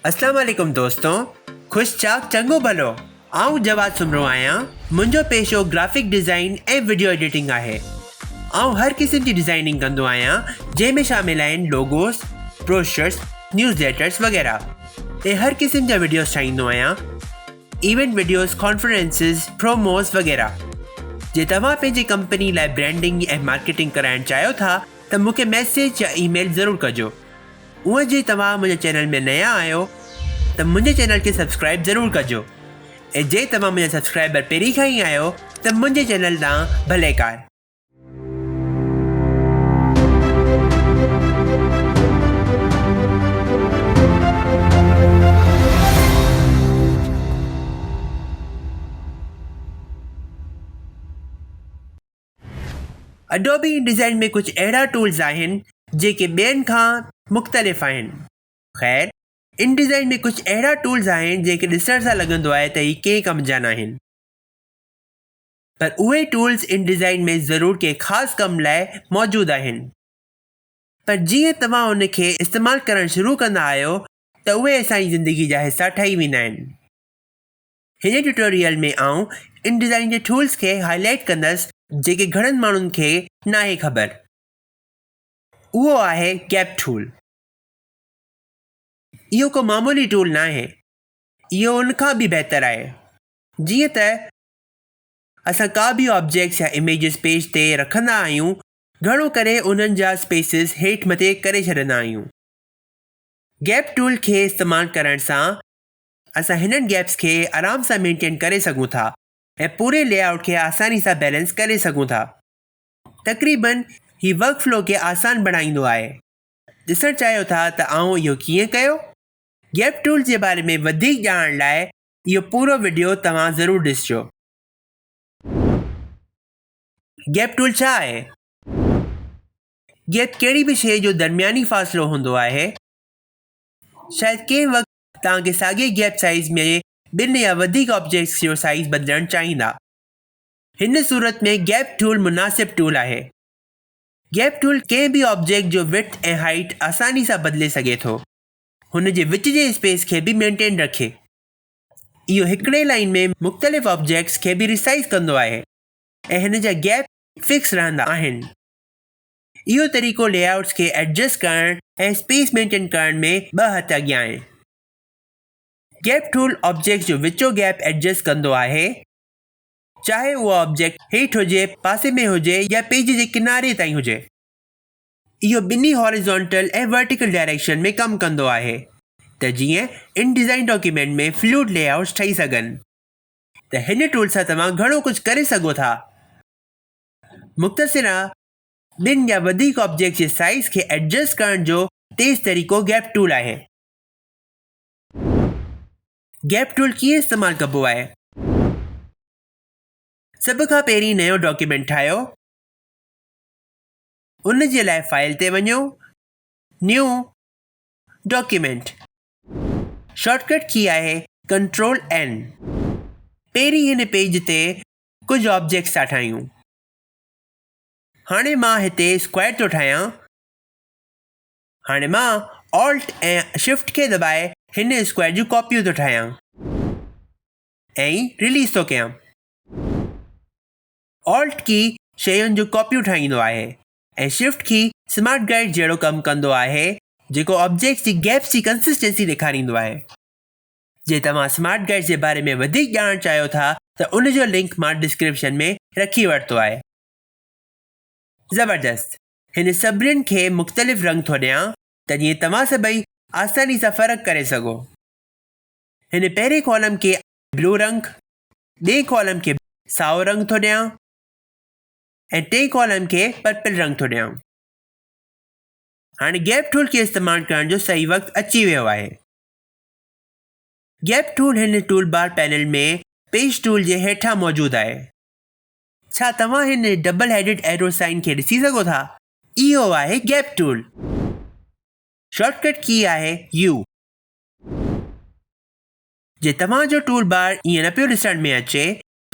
اسلام عليڪم دوستو خوش چاڪ چڱو ڀلو آئون جواد سومرو آهيان منهنجو پيشو گرافڪ ڊزائين ۽ وڊيو ايڊيٽنگ آهي آئون هر قسم جي ڊزائيننگ ڪندو آهيان جنهن ۾ شامل آهن لوگوس بروشرس نيوز ليٽرس وغيره ۽ هر قسم جا وڊيوس ٺاهيندو آهيان ايونٽ وڊيوز، ڪانفرنسز، پروموز وغيره. جي توهان پنهنجي ڪمپني لاء برانڊنگ ۽ مارڪيٽنگ ڪرائڻ چاهيو ٿا ته مون کي ميسيج يا اي ميل ضرور ڪجو. اونئن جي توهان منهنجي چينل ۾ نيان آهيو ته منهنجي چينل کي سبسڪرائيب ضرور ڪجو ۽ جي توهان منهنجا سبسڪرائبر پهرين کان ئي آهيو ته منهنجي چينل ڏانهن ڀليڪار. اڊوبي ان ڊيزائن ۾ ڪجهه اهڙا ٽولز آهن جيڪي ٻين کان مختلف آهن. خير ان ڊيزائن ۾ ڪجهه اهڙا ٽولز آهن جنهن کي ڏسڻ سان لڳندو آهي ته هي ڪنهن ڪم جا ناهن. پر اهي ٽولز ان ڊزائن ۾ ضرور ڪنهن خاص ڪم لاء موجود آهن پر جيئن توهان ان کي استعمال ڪرڻ شروع ڪندا آهيو ته اهي اسان جي زندگي جا حصا ٺهي ويندا آهن. هن ٽيوٽوريل ۾ آئون ان ڊزائن جي ٽولز کي هاء لائيٽ ڪندس جيڪي گهڻن ماڻهن کي ناهي خبر اهو آهي گيپ ٽول. اهو ڪو معمولي ٽول ناهي اهو ان کان به بهتر آهي جيئن ته اسان ڪا به آبجيڪٽس يا اميجز پيج تي رکندا آهيون گهڻو ڪري انهن جا اسپيسز هيٺ مٿي ڪري ڇڏندا آهيون. گيپ ٽول کي استعمال ڪرڻ سان اسان هنن گيپس کي آرام سان مينٽين ڪري سگهون ٿا ۽ پوري لي آئوٽ کي آساني سان بيلنس ڪري سگهون ٿا. تقريبن هي ورڪ فلو کي آسان بڻائيندو آهي. ڏسڻ چاهيو ٿا ته آئون اهو ڪيئن ڪيو؟ گيپ ٽول جي باري ۾ وڌيڪ ڄاڻڻ لاء اهو پورو وڊيو توهان ضرور ڏسجو. گيپ ٽول ڇا آهي؟ گيپ ڪهڙي به شيء جو درمياني فاصلو هوندو آهي. شايد ڪنهن وقت توهان کي ساڳئي گيپ سائيز ۾ ٻن يا وڌيڪ آبجيڪٽس جو سائيز بدلڻ چاهيندا. هن صورت ۾ گيپ ٽول مناسب ٽول آهي. گيپ ٽول ڪنهن به آبجيڪٽ جو وڊٿ ۽ هائيٽ آساني سان بدلي سگهي ٿو. هن جي وچ جي اسپيس کي به مينٽين رکي. اهو هڪڙي لائين ۾ مختلف آبجيڪٽس کي به ريسائيز ڪندو آهي ۽ هن جا گيپ فڪس رهندا آهن. اهو طريقو لي آئوٽس کي ايڊجسٽ ڪرڻ ۽ اسپيس مينٽين ڪرڻ ۾ ٻه هٿ اڳيان آهي. گيپ ٽول آبجيڪٽس جو وچو گيپ ايڊجسٽ ڪندو آهي، چاهي اهو آبجيڪٽ هيٺ هجي، پاسي ۾ هجي يا پيج جي ڪناري تائين هجي. اهو ٻنهي هاريزونٽل ۽ ورٽيڪل ڊائريڪشن ۾ ڪم ڪندو آهي ته جيئن ان ڊيزائن ڊاڪيومينٽ ۾ فلوئڊ لي آئوٽس ٺهي سگهن ته هن ٽول سان توهان گهڻو ڪجهه ڪري سگهو ٿا مختصرا ٻن يا وڌيڪ آبجيڪٽس جي سائيز کي ايڊجسٽ ڪرڻ جو تيز طريقو گيپ ٽول آهي. گيپ ٽول ڪيئن استعمال ڪبو آهي؟ سڀ کان پهرين نيو ڊاڪيومينٽ ٺاهيو. ان جي لاء فائل تي وڃو، New، Document. شارٽ ڪٽ ڪي آهي ڪنٽرول اين. پهرين هن پيج تي ڪجهه آبجيڪٽس ٿا ٺاهيون. هاڻي مان هتي اسڪوائر ٿو ٺاهيان. هاڻي مان Alt ۽ Shift کي دٻائي هن اسڪوائر جون ڪاپيون ٿو ٺاهيان ۽ رليز ٿو ڪيان. Alt ڪي شين جون ڪاپيون ٺاهيندو آهي ۽ Shift ڪي سمارٽ گائيڊ جهڙو ڪم ڪندو آهي جيڪو آبجيڪٽس جي گيپس جي ڪنسسٽنسي ڏيکاريندو آهي. جي توهان سمارٽ گائيڊ جي باري ۾ وڌيڪ ڄاڻڻ چاهيو ٿا ته ان جو لنڪ مان ڊسڪرپشن ۾ رکي ورتو آهي. زبردست هن سڀنين کي مختلف رنگ ٿو ڏيان ته جيئن توهان سڀئي آساني سان فرق ڪري سگهو. هن پهرين ڪالم کي بلو رنگ، ٻئي ڪالم کي سائو رنگ ٿو ڏيان ۽ ٽئين ڪالم کي پرپل رنگ ٿو ڏيان هاڻي گيپ ٽول کي استعمال ڪرڻ جو صحيح وقت اچي ويو آهي گيپ ٽول هن tool bar panel ۾ page tool جي هيٺان موجود آهي ڇا توهان هن ڊبل هيڊڊ ايرو سائن کي ڏسي سگهو ٿا اهو آهي گيپ ٽول شارٽ ڪٽ ڪي آهي يو جي توهان جو ٽول بار ائين نه پيو ڏسڻ ۾ اچي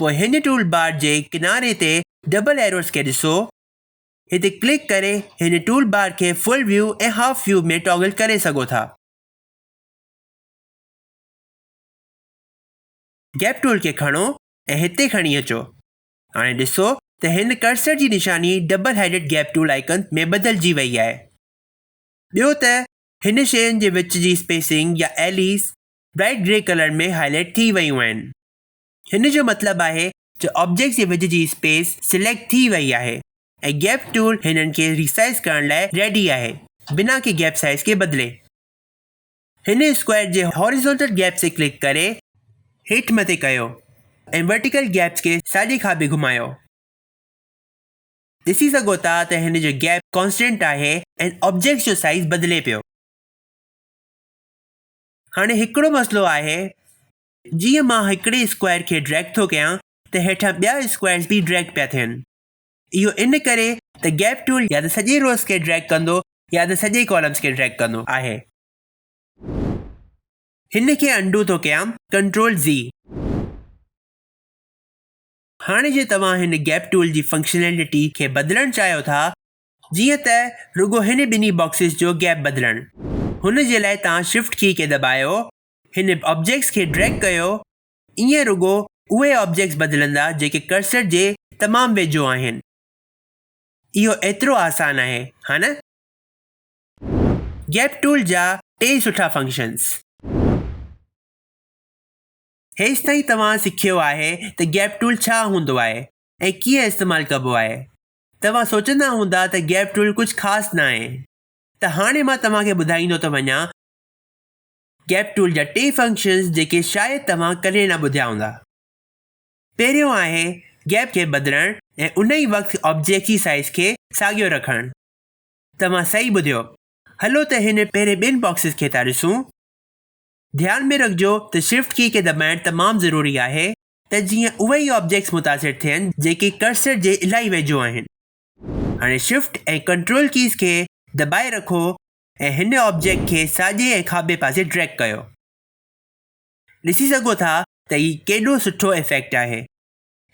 پوء هن ٽول بار جي ڪناري تي ڊبل ايروز کي ڏسو هتي ڪلڪ ڪري هن ٽول بار کي full view ۽ half view ۾ toggle ڪري سگهو ٿا. گيپ ٽول کي کڻو ۽ هتي کڻي اچو. هاڻي ڏسو ته هن ڪرسر جي نشاني double headed gap tool icon ۾ بدلجي وئي آهي. ٻيو ته هن شين جي وچ جي اسپيسنگ يا alleys bright grey colour ۾ highlight ٿي ويون آهن. هن جو مطلب آهي ته آبجيڪٽس جي وچ جي اسپيس سليڪٽ ٿي وئي آهي ۽ گيپ ٽول هنن کي ري سائيز ڪرڻ لاء ريڊي آهي بنا ڪي گيپ سائيز کي بدلي. هن اسڪوائر جي هاريزونٽل گيپس تي ڪلڪ ڪري هيٺ مٿي ڪيو ۽ ورٽيڪل گيپس کي ساڄي کاٻي گهمايو. ڏسي سگهو ٿا ته هن جو گيپ ڪانسٽنٽ آهي ۽ آبجيڪٽس جو سائيز بدلي پيو. هاڻي هڪڙو مسئلو آهي جيئن مان هڪڙي اسڪوائر کي ڊريگ ٿو ڪيان ته هيٺان ٻيا اسڪوائرز به ڊريگ پيا ٿين. اهو ان ڪري ته گيپ ٽول يا ته سڄي روز کي ڊريگ ڪندو يا ته سڄي ڪالمز کي ڊريگ ڪندو آهي. هن کي انڊو ٿو ڪيان ڪنٽرول زي. هاڻي جي توهان هن گيپ ٽول جي فنڪشنلٽي کي بدلڻ چاهيو ٿا جيئن ته رڳو هن ٻنهي باڪسز جو گيپ بدلڻ. هن جي لاء توهان شفٽ ڪي کي دٻايو، هن آبجيڪٽس کي ڊريگ ڪيو، ائين رڳو اهي آبجيڪٽس بدلندا جيڪي ڪرسر جي تمام ويجهو آهن. اهو ايترو آسان آهي، ها نه؟ گيپ ٽول جا ٽي سٺا فنڪشنز. هيستائين توهان سکيو آهي ته گيپ ٽول ڇا هوندو آهي ۽ ڪيئن استعمال ڪبو آهي. توهان سوچندا هوندا ته گيپ ٽول ڪجهه خاص ناهي ته هاڻي مان توهان کي ٻڌائيندو ٿو وڃان گيپ ٽول جا ٽي فنڪشنز جيڪي شايد توهان ڪڏهن نه ٻڌيا هوندا. پهريون آهي گيپ کي بدلڻ ۽ ان ئي وقت آبجيڪٽ جي سائيز کي ساڳيو رکڻ. توهان صحيح ٻڌيو. هلو ته هن پهرين ٻن باڪسز کي ٿا ڏسون. ڌيان ۾ رکجو ته شفٽ ڪي کي دٻائڻ تمام ضروري آهي ته جيئن اهي ئي آبجيڪٽس متاثر ٿين جيڪي ڪرسر جي الاهي ويجهو آهن. هاڻي شفٽ ۽ ڪنٽرول ڪيز کي دٻائي رکو ۽ هن آبجيڪٽ کي ساڄي ۽ کاٻي پاسي ڊريگ ڪيو. ڏسي سگهو ٿا ته هي ڪيڏو سٺو ايفيڪٽ آهي.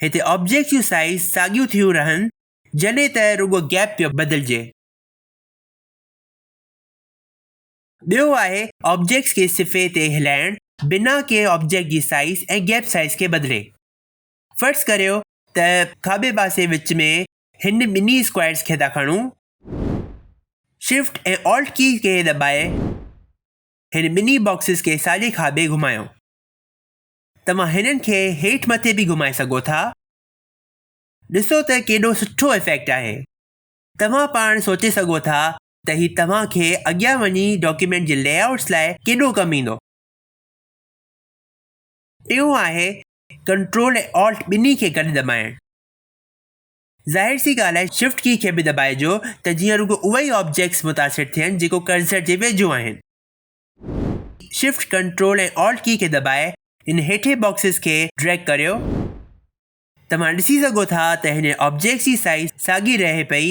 هتي آبجيڪٽس جون سائيز ساڳيون ٿيون رهن جڏهن ته رڳو گيپ پيو بدلجي. ٻيو آهي آبجيڪٽس کي صفحي تي هلائڻ بنا ڪنهن آبجيڪٽ جي سائيز ۽ گيپ سائيز کي بدلي. فرض ڪريو ته کاٻي پاسي وچ ۾ هن ٻنهي اسڪوائرز کي ٿا کڻون. شفٽ ۽ آلٽ ڪي کي دٻائي هن ٻنهي باڪسز کي ساڄي کاٻي گهمايو. توهان هنن کي هيٺ مٿي به گهمائي سگهو ٿا. ڏسو ته ڪيڏو سٺو افيڪٽ آهي. توهان پاڻ سوچي سگهو ٿا ته هي توهان کي اڳيان وڃي ڊاڪيومينٽ جي لي آئوٽس لاء ڪيڏو ڪم ايندو. ٽيون آهي ڪنٽرول ۽ آلٽ ٻنهي کي گڏ دٻائڻ. ظاهر سي ڳالهه آهي شفٽ ڪي کي به دٻائجو ته جيئن رڳو اهي ئي آبجيڪٽس متاثر ٿين جيڪو ڪرسر جي ويجهو آهن. شفٽ ڪنٽرول ۽ آلٽ ڪي کي دٻائي هن هيٺين باڪسز کي ڊريگ ڪريو. توهان ڏسي سگهو ٿا ته هن آبجيڪٽس جي سائيز ساڳي رهي پئي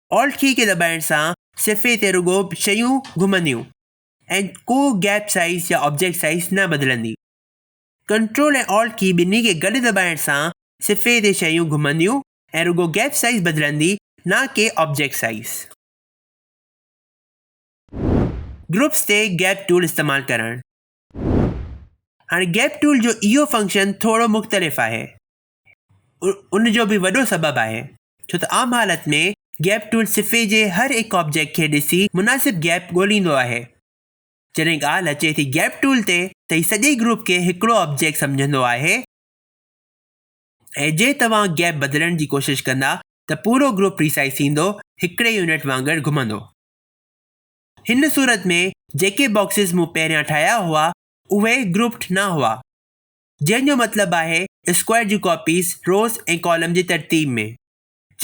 Alt ڪي کي دٻائڻ سان صفحي تي رڳو شيون گهمنديون ۽ ڪو گيپ سائيز يا آبجيڪٽ سائيز نه بدلندي. ڪنٽرول ۽ Alt ڪي ٻنهي کي گڏ دٻائڻ سان صفحي تي شيون گهمنديون ۽ رڳو گيپ سائيز بدلندي نه ڪي آبجيڪٽ سائيز. گروپس تي گيپ ٽول استعمال ڪرڻ. هاڻي گيپ ٽول جو اهو فنڪشن ٿورو مختلف آهي. ان جو به وڏو سبب آهي ڇو ته عام حالت ۾ گيپ ٽول صفحي جي هر هڪ آبجيڪٽ کي ڏسي مناسب گيپ ڳوليندو آهي. جڏهن ڳالهه اچي ٿي گيپ ٽول تي ته هي سڄي گروپ کي هڪڙو آبجيڪٽ سمجهندو آهي ۽ جي توهان گيپ بدلڻ جي ڪوشش ڪندا ته پورو گروپ ري سائيز ٿيندو هڪڙي يونٽ وانگر گهمندو. هن صورت ۾ جيڪي باڪسز مون پهريان ٺاهيا هئا اهي گروپڊ نه هئا. جنهن جو مطلب آهي اسڪوائر جون ڪاپيز روز ۽ ڪالم جي ترتيب ۾.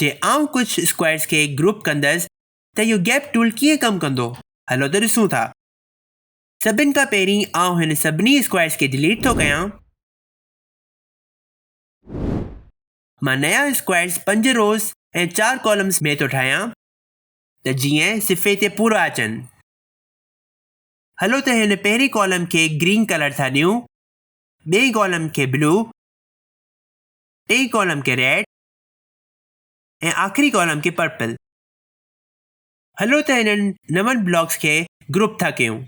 جي آئون ڪجهه اسڪوائرز کي گروپ ڪندس ته اهو گيپ ٽول ڪيئن ڪم ڪندو هلو ته ڏسون ٿا. سڀن کان پهرين آئون هن سڀني اسڪوائرز کي ڊليٽ ٿو ڪيان. مان نيا اسڪوائرز پنج روز ۽ چار ڪالمز ۾ ٿو ٺاهيان ته جيئن صفحي تي پورا اچن. هلو ته هن پهرين ڪالم کي گرين ڪلر ٿا ڏيون ٻئي ڪالم کي بلو، ٽئين ڪالم کي ريڊ ۽ آخري ڪالم کي پرپل. هلو ته هنن نون بلاڪس کي گروپ ٿا ڪيون.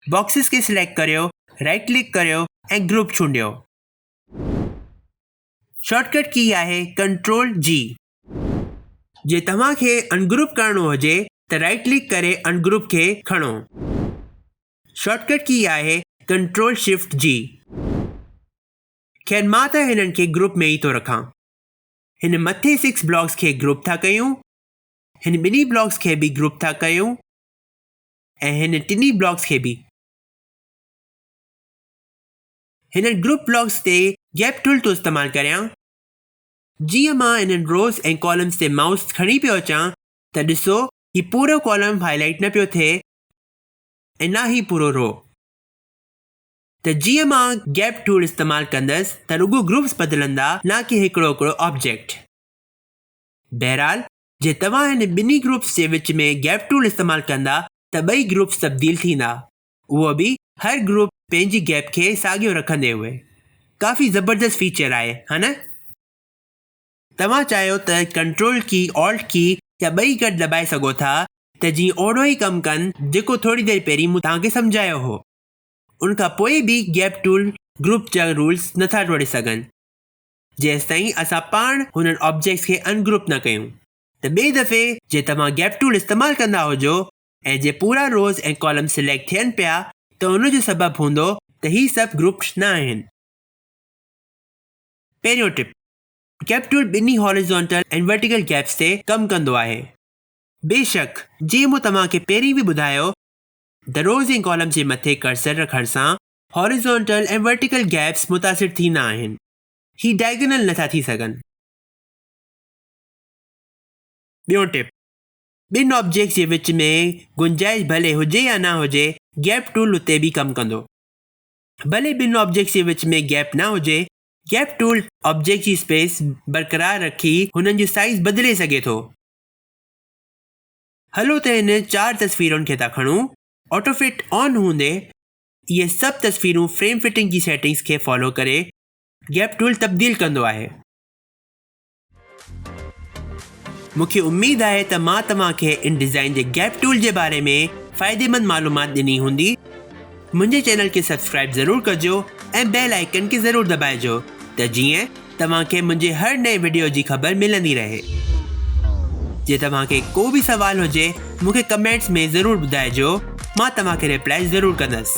باڪسز کي سليڪٽ ڪريو، رائٽ ڪلڪ ڪريو ۽ گروپ چونڊيو. شارٽ ڪٽ ڪي آهي ڪنٽرول جي. جي توهان کي انگروپ ڪرڻو هجي ته رائٽ ڪلڪ ڪري انگروپ کي کڻو. شارٽ ڪٽ ڪي آهي ڪنٽرول شفٽ جي. خير مان ته هنن کي گروپ ۾ ئي ٿو رکان. هن مٿين سڪس بلاگس کي گروپ ٿا ڪيون، هن ٻنهي بلاگس کي به گروپ ٿا ڪيون ۽ هن ٽنهي بلاگس کي به. هنن گروپ بلاگس تي گيپ ٽول ٿو استعمال ڪريان. جيئن مان انهن روز ۽ ڪالمس تي مائوس کڻي پيو اچان ته ڏسو هي پورو ڪالم هائي لائيٽ نه پيو ٿئي اناهي پورو رهو ته جيئن مان گيپ ٽول استعمال ڪندس ته رڳو گروپس بدلندا نه ڪي هڪڙو هڪڙو آبجيڪٽ. بهرحال جي توهان هن ٻنهي گروپس جي وچ ۾ گيپ ٽول استعمال ڪندا ته ٻئي گروپس تبديل ٿيندا اهو به هر گروپ پنهنجي گيپ کي ساڳيو رکندي هئي ڪافي زبردست فيچر آهي ها نه. توهان چاهيو ته ڪنٽرول ڪي، آلٽ ڪي يا ٻئي گڏ دٻائي سگهو ٿا ته جيئن اوهڙو ئي ڪم ڪن جيڪو ٿوري دير پهرين مون توهان کي سمجهايو هو. ان کان پوء به گيپ ٽول گروپ جا رولز نٿا ٽوڙي سگهن جيستائين اسان پاڻ هنن آبجيڪٽس کي ان گروپ نه ڪيون. ته ٻئي دفعي جي توهان گيپ ٽول استعمال ڪندا هجو ۽ جي پورا روز ۽ ڪالمز سليڪٽ ٿين پيا ته ان جو سبب هوندو ته هي سڀ گروپڊ نه آهن. پهريون ٽپ. ڪيپ ٽول ٻنهي هاريزونٽل ۽ ورٽيڪل گيپس تي ڪم ڪندو آهي. بيشڪ، جيئن مون توهان کي پهرين به ٻڌايو ته روز ۽ ڪالم جي مٿي ڪرسر رکڻ سان هاريزونٽل ۽ ورٽيڪل گيپس متاثر ٿيندا آهن. هي ڊائگنل نٿا ٿي سگهن. ٻيون ٽپ، ٻن آبجيڪٽس جي وچ ۾ گنجائش ڀلي هجي يا نه هجي، گيپ ٽول اتي به ڪم ڪندو. ڀلي ٻن آبجيڪٽس جي وچ ۾ گيپ نه هجي، گيپ ٽول آبجيڪٽ جي اسپيس برقرار رکي هنن جو سائيز بدلي سگهي ٿو. هلو ته هن چار تصويرن کي ٿا کڻون. آٽو فٽ آن هوندي اهي سڀ تصويرون فريم فٽنگ جي سيٽنگز کي فالو ڪري گيپ ٽول تبديل ڪندو آهي. مون کي اميد آهي ته مان توهان کي ان ڊيزائن جي گيپ ٽول جي باري ۾ فائديمند معلومات ڏني هوندي. منهنجي چينل کي سبسڪرائب ضرور ڪجو ۽ بيل آئيڪن کي ضرور دٻائجو ته جيئن توهان کي منهنجي هر نئين وڊيو جي خبر ملندي رهي. جي توهان کي ڪو به سوال هجي مون کي ڪمينٽس ۾ ضرور ٻڌائجو مان توهان کي ريپلائي ضرور ڪندس.